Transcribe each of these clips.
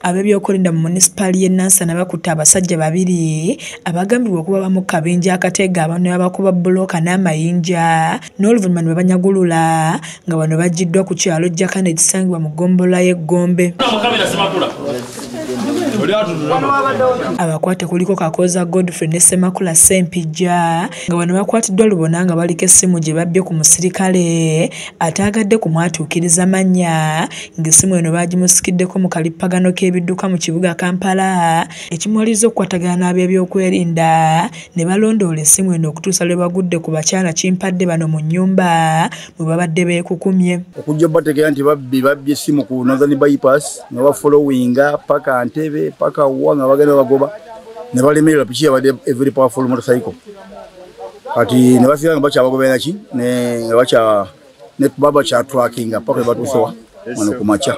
Ab'ebyokwerinda mu munisipaali y'e Nansana bakutte abasajja babiri abagambibwa okuba bamu ku kabinja akateega abantu ne babakuba bbulooka n'amayinja n'oluvannyuma ne babanyagulula nga bano bagiddwa ku kyalo Jakana ekisangibwa mu ggombolola y'e Gombe. abakwate kuliko kakooza godfrey ne semakula sempijja nga bano bakwatiddwa lubona nga baliko essimu gye babbye ku musirikale ataagadde kumwatuukiriza mannya ng'essimu eno baagimusikiddeko mu kalippagano k'ebidduka mu kibuga Kampala ekimuwalirizza okukwatagana n'ab'ebyokwerinda ne balondoola essimu eno okutuusa lwe bagudde ku bakyala kimpadde bano mu nnyumba mwe babadde beekukumye okujja obategeera nti babbi babbye essimu ku nazani bypass nga bafolowinga paka ntebe paka wa nga bagenda bagoba ne balemererwa piki yabadde every powerful motorcycle kati ne basigala nga bakyabagobera ki nga bakya ne baba kyatwakinga paka ebatuusewa wano ku makya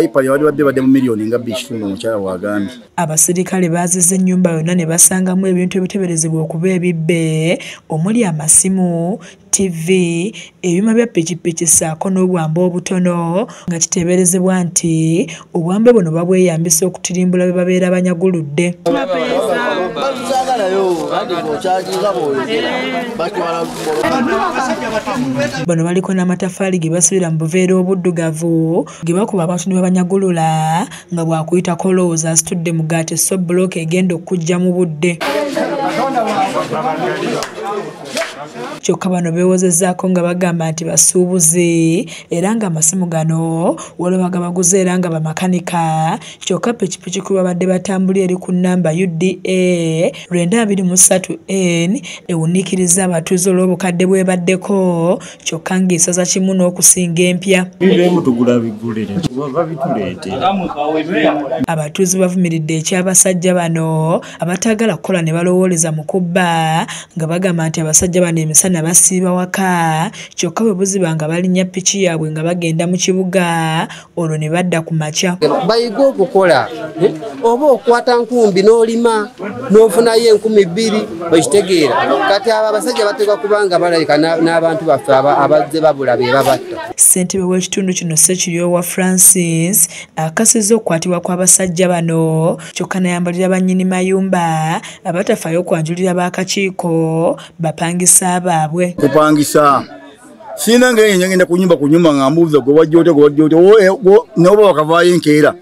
ipa yabadde badde badde mu miliyoni nga bbi ekitundu omukyala wagambye abaserikale baaziza ennyumba yonna ne basangamu ebintu ebiteberezebwa okuba ebibbe omuli amasimu ttivvi, ebyuma bya pikipiki ssaako n'obwambe obutono nga kiteeberezebwa nti obwambe buno babweyambisa okutirimbula be babeera banyaguludde. Bano baliko n'amataffaali ge basibira mu buveera obuddugavu ge bakuba abantu ne babanyagulula nga bw'akuyitako lowooza asitudde mugaati so bbulooka egenda okujja mu budde kyokka bano beewozezaako nga bagamba nti basuubuzi era nga amasimu gano waliwo bagabaguza era nga bamakanika kyokka pikipiki kwe babadde batambuli eri ku nnamba uda lwenda abiri mu ssatu n ewuniikiriza abatuuze olw'obukadde bwebaddeko kyokka ng'esaza kimu n'okusinga empya abatuuze bavumiridde eky'abasajja bano abataagala kukola ne balowooleza mu kubba nga bagamba nti abasajja bano emisana basiiba waka kyokka bwe buziba nga balinnya piki yaabwe nga bagenda mu kibuga olwo ne badda ku makya bayige okukola eh, oba okwata nkumbi n'olima n'ofunayo enkumi bbiri okitegeera kati abo abasajja bateekwa kubanga balabika n'abantu baffe abazze babula be babatta ssentebe w'ekitundu kino sekiryowa francis akasiza okukwatibwa kw'abasajja bano kyokka nayambalira bannyini mayumba abatafaayo okwanjulira b'akakiiko bapangisa baabwe kupangisa sina nga yenye ngenda kunyumba kunyumba nga mbuza gwe wajja ote gwe wajja ote eh, noba wakavaayo enkeera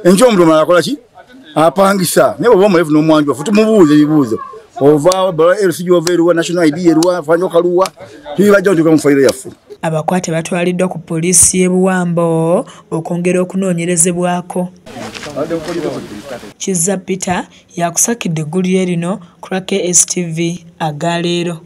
enkyo omuntu omala akola ki apangisa naye baba omulevu n'omwanjwa futi mubuuza ebibuuzo ovaawo bala lc gyova eruwa national id eruwa fanya okaluwa tubibajja otuka mu fayiro yaffe abakwate batwaliddwa ku poliisi y'e buwambo okwongera okunoonyerezebwako kizza peter yakusakidde eggulu lye lino ku lwa kstv aga leero